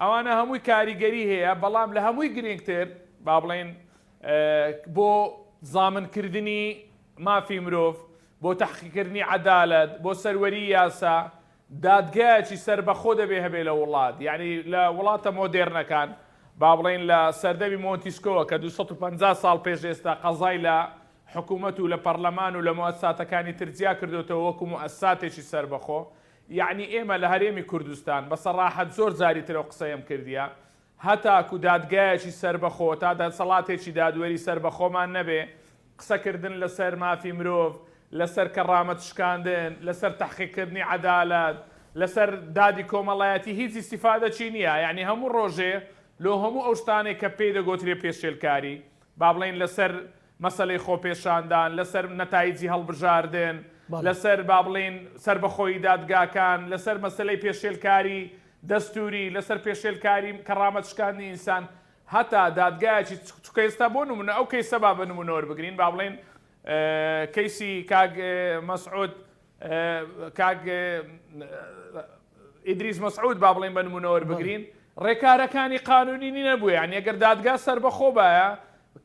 ئەوانە هەمووی کاریگەری هەیە، بەڵام لە هەمووی گرینگتر با بڵێین بۆ زامن کردنی مافی مرۆڤ، بۆ تەحقیق کردنی عەدالەت، بۆ سەروەری یاسا، دادگایەکی سەربەخۆ دەبێ هەبێ لە وڵات، یانی لە وڵاتە مۆدێرنەکان با بڵێین لە سەردەمی مۆنتیسکۆوە کە دوو سەد و پەنجا ساڵ پێش ئێستا قەزای لە حکوومەت و لە پەڕلەمان و لە موئەسساتەکانی تر جیا کردۆتەوە وەکوو موئەسساتێکی سەربەخۆ، یەعنی ئێمە لە هەرێمی کوردستان، بە سەڕاحەت زۆر جاری تر ئەو قسەیەم کردیە، هەتاکو دادگایەکی سەربەخۆ، تا دەسەڵاتێکی دادوەری سەربەخۆمان نەبێ، قسەکردن لەسەر مافی مرۆڤ، لەسەر کەڕامەت شکاندن، لەسەر تەحقیقکردنی عەدالەت، لەسەر دادی کۆمەڵایەتی هیچ ئیستیفادەکی نیە، یەعنی هەموو ڕۆژێ لۆ هەموو ئەو شتانەی کە پێی دەگۆترێ پێشێلکاری، با بڵێین لەسەر مەسەلەی خۆپێشاندان، لەسەر نەتایجی هەڵبژاردن، لەسەر با بڵێین سەربەخۆیی دادگاکان، لەسەر مەسەلەی پێشێلکاری دەستووری، لەسەر پێشێلکاری کەڕامەت شکاندنی ئینسان، هەتا دادگایەکی چونکە ئێستا بۆ نموونە ئەو کەیسە با بە نموونە وەربگرین با بڵێین کەیسی کاک مەسعود کاک ئیدریس مەسعود با بڵێین بە نموونە وەربگرین، ڕێکارەکانی قانوونی نەبوو، یانی ئەگەر دادگا سەربەخۆ بایە،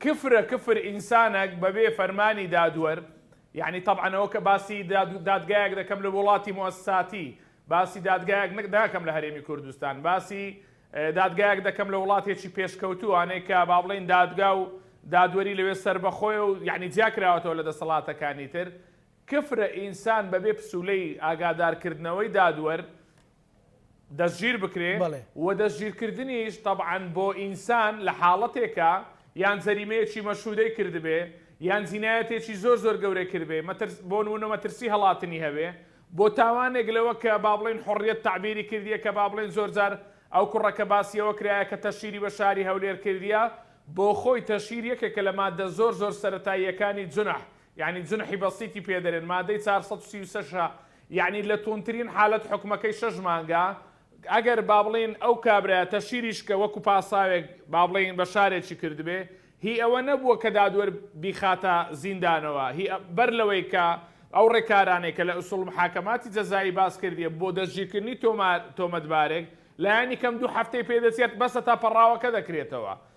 کفرە کفر ئینسانەک بەبێ فەرمانی دادوەر، یانی تەبعەن ئەوە کە باسی دادگایەک دەکەم لە وڵاتی موئەسساتی، باسی دادگایەک ناکەم لە هەرێمی کوردستان، باسی دادگایەک دەکەم لە وڵاتێکی پێشکەوتووانەی کە با بڵێین دادگا و دادوەری لەوێ سەربەخۆیە و یانی جیا کراوەتەوە لە دەسەڵاتەکانی تر، کفرە ئینسان بەبێ پسولەی ئاگادارکردنەوەی دادوەر دەستگیر بکرێ بەڵێ. و دەستگیرکردنیش تەبعەن بۆ ئینسان لە حاڵەتێکا یان جەریمەیەکی مەشهودەی کردبێ یان جینایەتێکی زۆر زۆر گەورەی کردبێ مەترس بۆ نمونە مەترسی هەڵاتنی هەبێ بۆ تاوانێک لەوە کە با بڵێین حوڕیەت تەعبیری کردیە کە با بڵێین زۆر جار ئەو کوڕە کە باسی ئەوە کرایە کە تەشهیری بە شاری هەولێر کردیە بۆ خۆی تەشهیر یەکێکە لە ماددە زۆر زۆر سەرەتاییەکانی جونح یانی جونحی بەسیتی پێ دەرێن مادەی چار سەد و سی و شەش ە یانی لە توندترین حالەت حوکمەکەی شەش مانگە ئەگەر با بڵین ئەو کابرایە تەشیریش کە وەکو پاساوێک با بڵین بە شارێکی کردبێ هی ئەوە نەبووە کە دادوەر بیخاتە زیندانەوە هی بەر لەوەی کە ئەو ڕێکارانەی کە لە ئسول محاکماتی جەزایی باس کردیە بۆ دەستگیرکردنی تۆمار تۆمەتبارێک لایەنی کەم دوو هەفتەی پێ دەچێت بەسە تا پەڕاوەکە دەکرێتەوە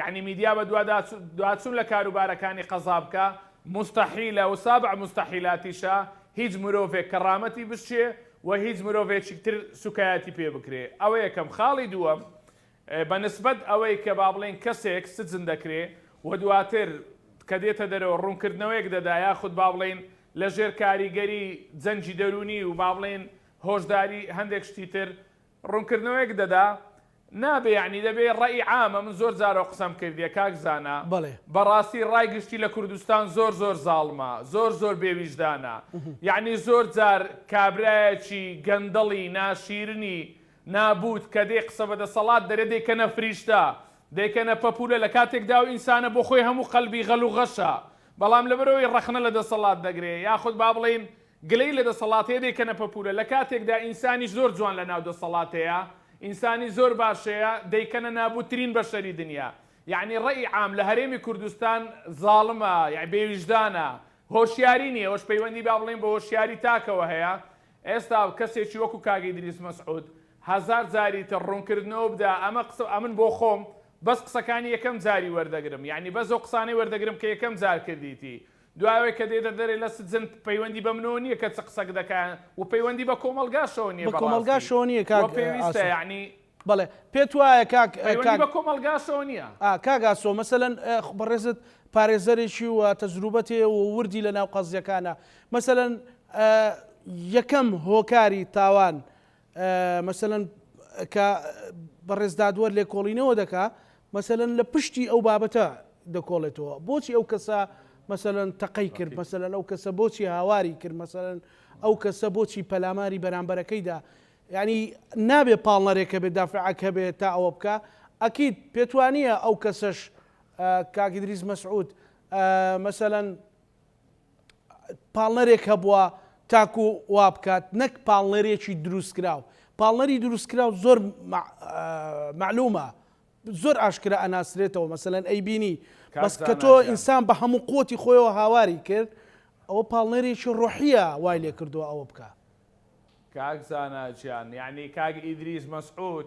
یەعنی میدیا بە دوا دوا چون لە کاروبارەکانی قەزا بکا موستەحیلە و سابع موستەحیلاتیشە هیچ مرۆڤێک کەڕامەتی بشکێ و هیچ مرۆڤێکیک تر سوکایەتی پێ بکرێ ئەوە یەکەم خاڵی دووەم بە نسبەت ئەوەی کە با بڵێین کەسێک سجن دەکرێ و دواتر کە دێتە دەرەوە ڕوونکردنەوەیەک دەدا یاخود با بڵێین لە ژێر کاریگەری جەنگی دەروونی و با بڵێین هۆشداری هەندێک شتی تر ڕونکردنەوەیەک دەدا نابێ یەعنی دەبێ ڕەئی عامە من زۆر جار ئەو قسەم کردیە کاک زانا بەڵێ. بەڕاستی ڕای گشتی لە کوردستان زۆر زۆر زاڵمە زۆر زۆر بێ ویژدانە یەعنی زۆر جار کابرایەکی گەندەڵی ناشیرنی نابووت کە دێ قسە بە دەسەڵات دەرێ دەیکەنە فریشتە دەیکەنە پەپولە لە کاتێکدا ئەو ئینسانە بۆ خۆی هەموو قەلبی غەل و غەشە بەڵام لەبەرئەوەی ڕەخنە لە دەسەڵات دەگرێ یاخود با بڵێین گلەیی لە دەسەڵاتەیە دەیکەنە پەپورە لە کاتێکدا ئینسانیش زۆر جوان لە ناو دەسەڵاتەیە ئینسانی زۆر باشەیە دەیکەنە نابوت ترین بەشەری دنیا یەعنی ڕەئی عام لە هەرێمی کوردستان زاڵمە یەعنی بێ ویژدانە هۆشیاری نیە ئەوەش پەیوەندی با بڵێین بە هۆشیاری تاکەوە هەیە ئێستا کەسێکی وەکو کاک ئیدریس مەسعود هەزار جاری تر ڕونکردنەوە بدا ئەمە قسە ئەمن بۆ خۆم بەس قسەکانی یەکەم جاری وەردەگرم یەعنی بەس ئەو قسانەی وەردەگرم کە یەکەم جار کردیتی دوای ئەوەی کە دێتە دەرێ لە سجن پەیوەندی بە منەوە نیە کە چ قسەک دەکا وە پەیوەندی بە کۆمەڵگاشەوە نیە بە ڕاستی وە پێویستە یەعنی بەڵێ پێت وایە کاک پەیوەندی بە کۆمەڵگاشەوە نیە ئا کاک ئاسۆ مەسەلەن خۆ بەڕێزت پارێزەرێکی و تەجروبەت هەیە و وردی لە ناو قەزیەکانە مەسەلەن یەکەم هۆکاری تاوان مەسەلەن کە بەڕێز دادوەر لێکۆڵینەوە دەکا مەسەلەن لە پشتی ئەو بابەتە دەکۆڵێتەوە بۆچی ئەو کەسە مەسەلەن تەقەی کرد مەسەلەن ئەو کەسە بۆچی هاواری کرد مەسەلەن ئەو کەسە بۆچی پەلاماری بەرامبەرەکەیدا یعنی نابێ پاڵنەرێکە بێ دافعک هەبێ تا ئەوە بکە ئەکییت پێتوانە ئەو کەسەش کاگیدریز مەسعود مەسەەن پاڵنەرێک هەبووە تاکو وابکات نەک پاڵنەرێکی دروستکراو پاڵنەری دروستکراو زۆر معلومە زۆر ئاشکرا ئەناسرێتەوە مەسەەن ئەی بینی بەس کە تۆ ئینسان بە هەموو قوتی خۆیەوە هاواری کرد ئەوە پاڵنەرێکی ڕۆحیە وای لێ کردووە ئەوە بکە کاک زاناجیان یعنی کاک ئیدریس مەسعود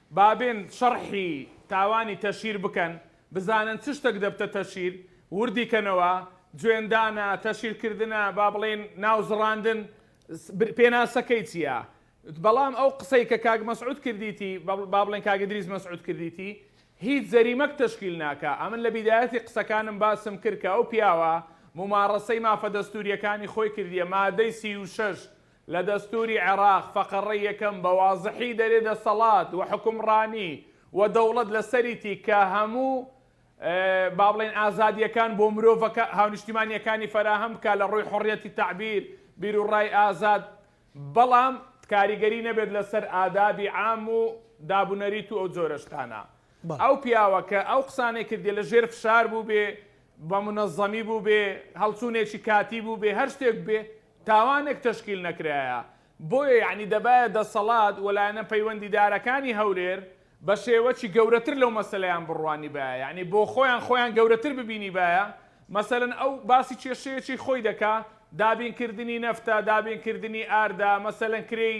بابێن شەڕحی تاوانی تەشیر بکەن بزانن چ شتەک دەبتە تەشیر وردی کەنەوە جوێندانە تەشیر کردنە با بڵێن ناو زڕاندن پێناسەکەی چیە بەڵام ئەو قسەی کە کاک مەسعود کردیتی با بڵێن کاک ئیدریس مەسعود کردیتی هیچ جەریمەک تەشکیل ناکا ئەمن لە بیدایەتی قسەکانم باسم کرد کە ئەو پیاوە موماڕەسەی مافە دەستوریەکانی خۆی کردیە مادەی سی و شەش لە دەستوری عێراق فەقەڕەی یەکەم بە وازحی دەرێ دەسەڵات وحوکمڕانی ودەوڵەت لە سەریتی کە هەموو با بڵێین ئازادیەکان بۆ مرۆڤەکە هاونیشتیمانیەکانی فەراهەم بکات لە ڕووی حڕیەتی تەعبیر بیرو ڕای ئازاد بەڵام کاریگەری نەبێت لە سەر ئادابی عام و دابونەریت و ئەو جۆرە شتانە ئەو پیاوە کە ئەو قسانەی کردیە لە ژێر فشار بووبێ بە منەزەمی بووبێ هەڵچوونێکی کاتی بووبێ هەر شتێک بێ تاوانێک تەشکیل نەکرایە، بۆیە یەعنی دەبایە دەسەڵات و لایەنە پەیوەندیدارەکانی هەولێر بە شێوەکی گەورەتر لەو مەسەلەیان بڕوانیبایە، یەعنی بۆخۆیان خۆیان گەورەتر ببینیبایە، مەسەلەن ئەو باسی کێشەیەکی خۆی دەکا، دابینکردنی نەفتە، دابینکردنی ئاردە، مەسەلەن کرێی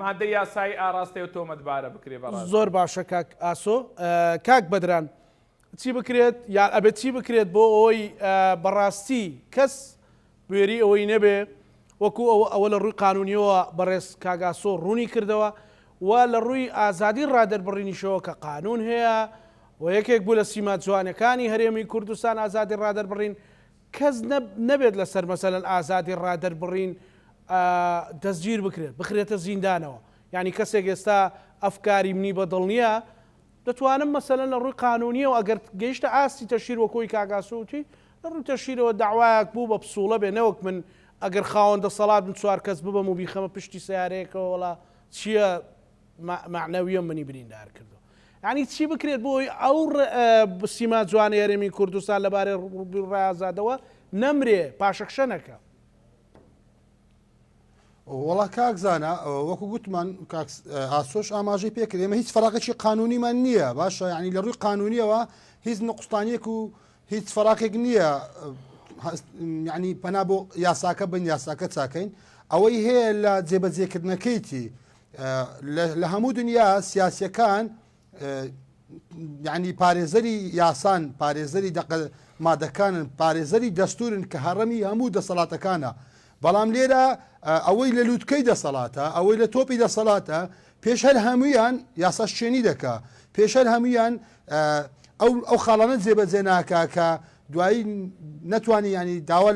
مادەی یاسایی ئاراستەی ئەو تۆمەتبارە بکرێت بەڕێز. زۆر باشە کاک ئاسۆ. کاک بەدران چی بکرێت یان ئەبێت چی بکرێت بۆ ئەوەی بەڕاستی کەس بوێری ئەوەی نەبێ وەکو ئەوە ئەوە لە ڕووی قانونیەوە بەڕێز کاک ئاسۆ ڕوونی کردەوە و لە ڕووی ئازادی ڕادەربڕینیشەوە کە قانون هەیە و یەکێک بوو لە سیما جوانەکانی هەرێمی کوردستان ئازادی ڕادەربڕین کەس نەبێت لەسەر مەسەلەن ئازادی ڕادەربڕین دەستگیر بکرێت بخرێتە زیندانەوە یانی کەسێک ئێستا ئەفکاری منی بەدڵ نیە دەتوانم مەسەلەن لە ڕووی قانونیەوە ئەگەر گەیشتە ئاستی تەشیر وەک خۆی کاک ئاسۆ وتی لە ڕووی تەشیرەوە دەعوایەک بوو بە پسووڵە بێ نەوەک من ئەگەر خاوەن دەسەڵات بم چوار کەس ببەم و بیخەمە پشتی سەیارەیەکەوە وەڵا چیە مەعنەویە منی بریندار کردووە. یعنی چی بکرێت بۆ ئەوی ئەو سیما جوانی هەرێمی کوردستان لەبارەی ڕای ئازادەوە نەمرێ پاشەکشە نەکە وڵا کاک زانە وەکو گوتمان ئاسۆش ئاماژەی پێکرد ئێمە هیچ فراقێکی قانونیمان نییە باشە ینی لە ڕووی قانونیەوە هیچ نقستانیەک و هیچ فراقێک نییە ینی پەنا بۆ یاساکە بن یاساکە چاکەین ئەوەی هەیە لە جێبەجێکردنەکەیتی لە هەموو دنیا سیاسیەکان یعنی پارێزەری یاسان پارێزەری دەق مادەکانن پارێزەری دەستورن کە هەڕەمی هەموو دەسەڵاتەکانە بەڵام لێرە ئەوەی لە لووتکەی دەسەڵاتە ئەوەی لە تۆپی دەسەڵاتە پێش هەر هەمویان یاسا شوێنی دەکا پێشەر هەمویان ئەو ئەو خاڵانە جێبەجێ ناکە کە دوایی نەتوانانی ینی داوا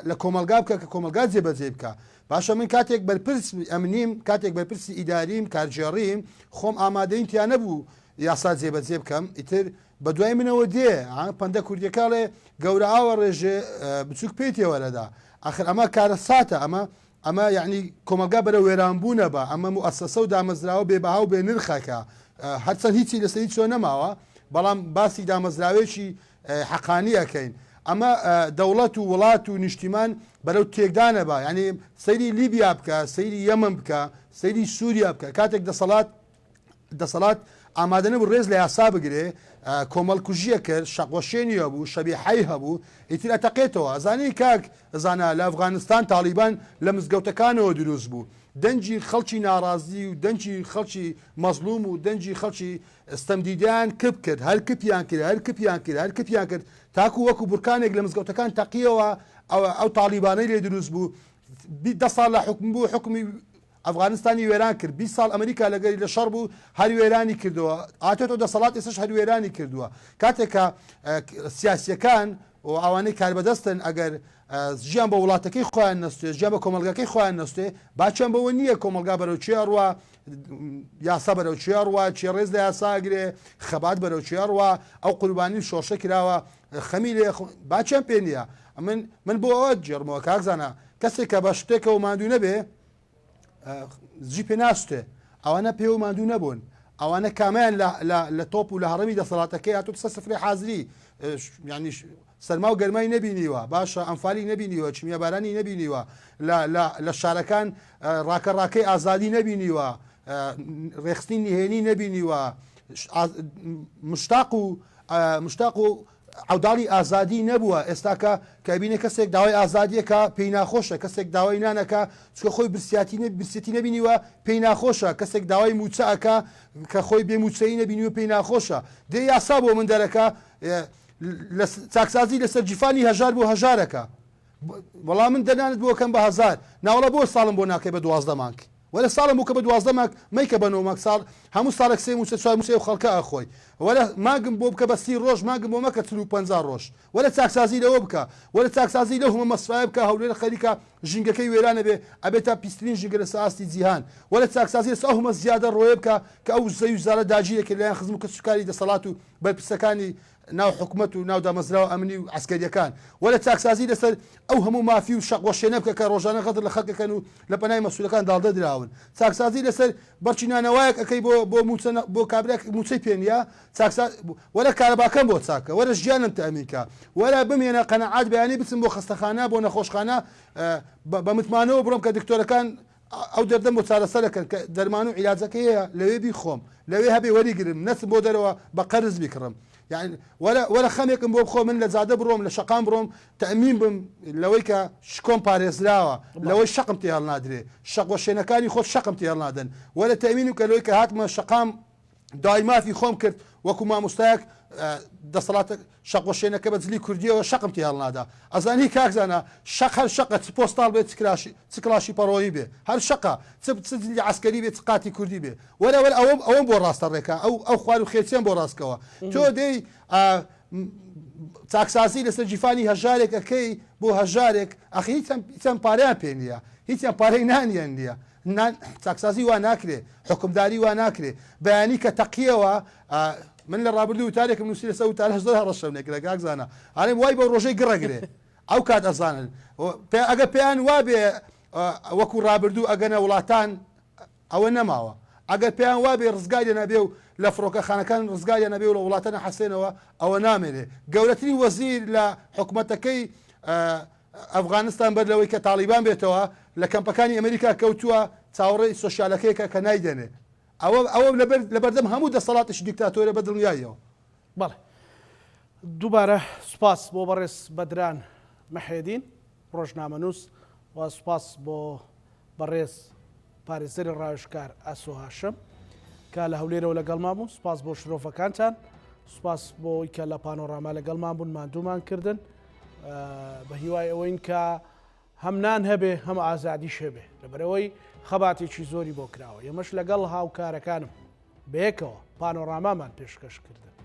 لە کۆمەلگا بکە کە کۆمەلگا جێبەجێ بکە باشە من کاتێک بەرپرس ئەمنیم کاتێک بەرپرسی ئیداریم کارگێڕیم خۆم ئامادەیم تیا نەبوو یاسا جێبەجێ بکەم ئیتر بەدوای منەوە دێ ها پەندە کوردیەکە ئەڵێ گەورە ئاوە ڕێژێ بچووک پێی تێوەرەدا ئاخر ئەمە کارەساتە ئەمە ئەمە یعنی کۆمەلگا بەرە وێرانبوونە بە ئەمە موئەسەسە و دامەزراوە بێبەها و بێ نرخەکە هەرچەند هیچی لەسەری چۆ نەماوە بەڵام باسی دامەزراوێکی حەقانی ئەکەین ئەمە دەوڵەت و وڵات و نیشتیمان بەرەو تێکدانە با یعنی سەیری لیبیا بکە سەیری یەمن بکە سەیری سووریا بکە کاتێک دەسەڵات دەسەڵات ئامادە نەبوو ڕێز لە یاسا بگرێ کۆمەڵکوژیە کرد شەقوەشێنی هەبوو شەبی حی هەبوو ئیتر ئەتەقێتەوە ئەزانی کاک زانا لە ئەفغانستان تاالبان لە مزگەوتەکانەوە دروست بوو دەنجی خەڵکی ناڕازی و دەنجی خەڵکی مەزلوم و دەنجی خەڵکی ستەم دیدیان کپ کرد هەر کپیان کرد هەر کپیان کرد هەر کپیان کرد تاکو وەکو بورکانێک لە مزگەوتەکان تەقیەوە ئەوە ئەو تاڵیبانەی لێ دروست بوو بیست دە ساڵ لە حوکم بوو حوکمی ئەفغانستانی وێران کرد بیست ساڵ ئەمریکا لەگەری لە شەڕ بوو هەر وێرانی کردەوە ئاتێتۆ دەسەڵات ئێسش هەر وێرانی کردووە کاتێک کە سیاسیەکان و ئەوانەی کاربەدەستن ئەگەر ژیان بە وڵاتەکەی خۆیان نەستێ ژیان بە کۆمەلگاکەی خۆیان نەستێ باچیان بەوە نییە کۆمەلگا بەرەوچێ ئەڕوا یاسا بەرەو چێ ڕوا چێ ڕێز لە یاساگرێ خەبات بەرەو چێ ڕوا ئەو قوربانی و شۆشە کراوە خەمی لێ باچیان پێ نییە ئەمن من بۆ ئەوە جێڕمەوە کاکزانە کەسێک کە بە شتێکەوە مادوو نەبێ زی پێ ناستێ ئەوانە پێ و مادوو نەبوون ئەوانە کامیان لە تۆپ و لە هەڕمی دەسەڵاتەکەی هاتو سە سفری حازری ینی سەرما و گەرمای نەبینیوە باشە ئەنفالی نەبینیوە چمیە بارانی نەبینیوە لە لە لە شارەکان ڕاکە ڕاکەی ئازادی نەبینیوە ڕێخستنی نهێنی نەبینیوە مشتاق و مشتاق و عوداڵی ئازادی نەبووە ئێستاکە کەبینە کەسێک داوای ئازادیەکە پێی ناخۆشە کەسێک داوای نانەکە چکە خۆی برسیاتی نە برسێتی نبینیوە پێی ناخۆشە کەسێک داوای موچەکە کە خۆی بێ موچەی نبینی و پێی ناخۆشە دێ یاسا بۆ من دەرەکە لە چاکسازی لەسەر جیفانی هەژار بۆ هەژارەکە وەڵا من دەنانت بۆ کەم بە هەزار ناوەڵە بۆ ساڵم بۆ ناکەی بە دوازدە مانگ وەرە ساڵم بوو کە بە دوازدە مانگ مەیکە بە نۆ مانگ ساڵ هەموو ساڵێک سێ موچە چوار موچەی خەڵکە ئەخۆی وەرە مانگم بۆ بکە بە سی ڕۆژ مانگم بۆ مەکە چل و پەنجا ڕۆژ وەرە چاکسازی لەوە بکە وەرە چاکسازی لەو هەمە مەسفایە بکە هەولێر خەریکە ژینگەکەی وێرانە بێ ئەبێتە پیسترین ژینگە لەسەر ئاستی جیهان وەرە چاکسازی لەسەر ئەو هەمە زیادە ڕۆیە بکە کە ئەو زەوی و زارە داگیرەکرد لەلایەن خزم و کەسوکاری دەسەڵات و بەرپرسەکانی ناو حکومەت و ناو دامەزراوە ئەمنی و عەسکەرییەکان، وەرە چاکسازی لەسەر ئەو هەموو مافی و شەق وەشێنە بکە کە ڕۆژانە غەدر لە خەلک ئەکەن و لە پەنای مەسولەکان داڵدە دراون، چاکسازی لەسەر بەڕکی نانەوایەک ئەکەی بۆ بۆ موچە نە بۆ کابرایەک موچەی پێ نیە، چاکسا وەرە کارەباکەم بۆ چاک کە، وەرە ژیانم تەئمین کە، وەرە بمێنە قەناعەت بەیانی بچم بۆ خەستەخانە بۆ نەخۆشخانە بە بە متمانەوە بڕۆم کە دکتۆرەکان ئەو دەردەم بۆ چارەسەرەکەن کە دەرمان و عیلاجەکەی هەیە لەوێ بیخۆم لەوێ هەبێ وەریگرم نەچم بۆ دەرەوە بە قەرز بیکڕم یان وەرە وەرە خەمێکم بۆ بخۆ من لە جادە بڕۆم لە شەقام بڕۆم تەئمین بم لەوەی کە شکۆم پارێزراوە لەوەی شەقم تێ هەڵنادرێ شەق وەشێنەکانی خۆت شەقم تێ هەڵنادەن وەرە تەئمینم کە لەوەی کە هاتمە شەقام داوای مافی خۆم کرد وەکو ماموستایەک دەسەڵات شەقۆشێنەکە بە جلی کوردیەوە شەقم تی هەڵنادا ئەزانی کاکزانە شەق هەر شەقە چ پۆستاڵ بێت چکراشی چکلاشی پەڕۆیی بێ هەر شەقە چ جلی عسکەری بێت قاتی کوردی بێ وەرەوەر ئەوم ئەوم بۆ ڕاستە ڕێکە ئەو ئەو خوار و خێچیان بۆ ڕاستکەوە تۆ دەی چاکسازی لەسەر جیفانی هەژارێک ئەەکەی بۆ هەژارێک ئەخی هیچم پاریان پێ نییە هیچیان پارەی نانیان نییە نا چاکسازی وا ناکرێ حوکمداری وا ناکرێ بەیانی کە تەقیەوە من لە ڕابردوو وتارێکم نووسی لەسە وتارە زۆر هەڕەشەم لێکرا کاک زانا ئارێم وای بۆ ڕۆژەی گڕەگرێ ئەو کات ئەزانن ئەگە پێیان وابێ وەکو ڕابردوو ئەگەنە وڵاتان ئەوە نەماوە ئەگەر پێیان وابێ ڕزگاریە نەبێ و لە فڕۆکەخانەکان ڕزگاریە نەبێ و لە وڵاتە نەحەسێنەوە ئەوە نامێنێ گەورەترین وەزیر لە حکوومەتەکەی ئەفغانستان بەر لەوەی کە تاڵیبان بێتەوە لە کەمپەکانی ئەمریکا کەوتووە، چاوەڕێی سۆشیالەکەیەکە کە نایدەنێ. ئەوە ئەوە لە بەردەم هەموو دەسەڵاتێکی دیکتاتۆرە بە دڵنیاییەوە. بەڵێ. دووبارە سوپاس بۆ بەڕێز بەدران محێدین، ڕۆژنامەنووس و سوپاس بۆ بەڕێز پارێزەری ڕاوێژکار ئاسۆ هاشم کە لە هەولێرەوە لەگەڵمان بوون سپاس بۆ شرۆڤەکانتان سپاس بۆی کە لە پانۆڕاما لەگەڵمان بوون ماندوومان کردن بە هیوای ئەوەین کە هەمنان هەبێ هەم ئازادیش هەبێ لەبەرەوەی خەباتێکی زۆری بۆ کراوە یەمەش لەگەڵ هاوکارەکانم بەیەکەوە پانۆرامامان پێشکەش کردن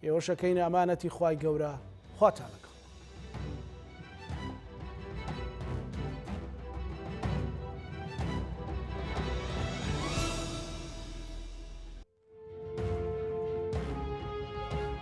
ئێوەشەکەینە ئەمانەتی خی گەورە خواتان لەگەڵ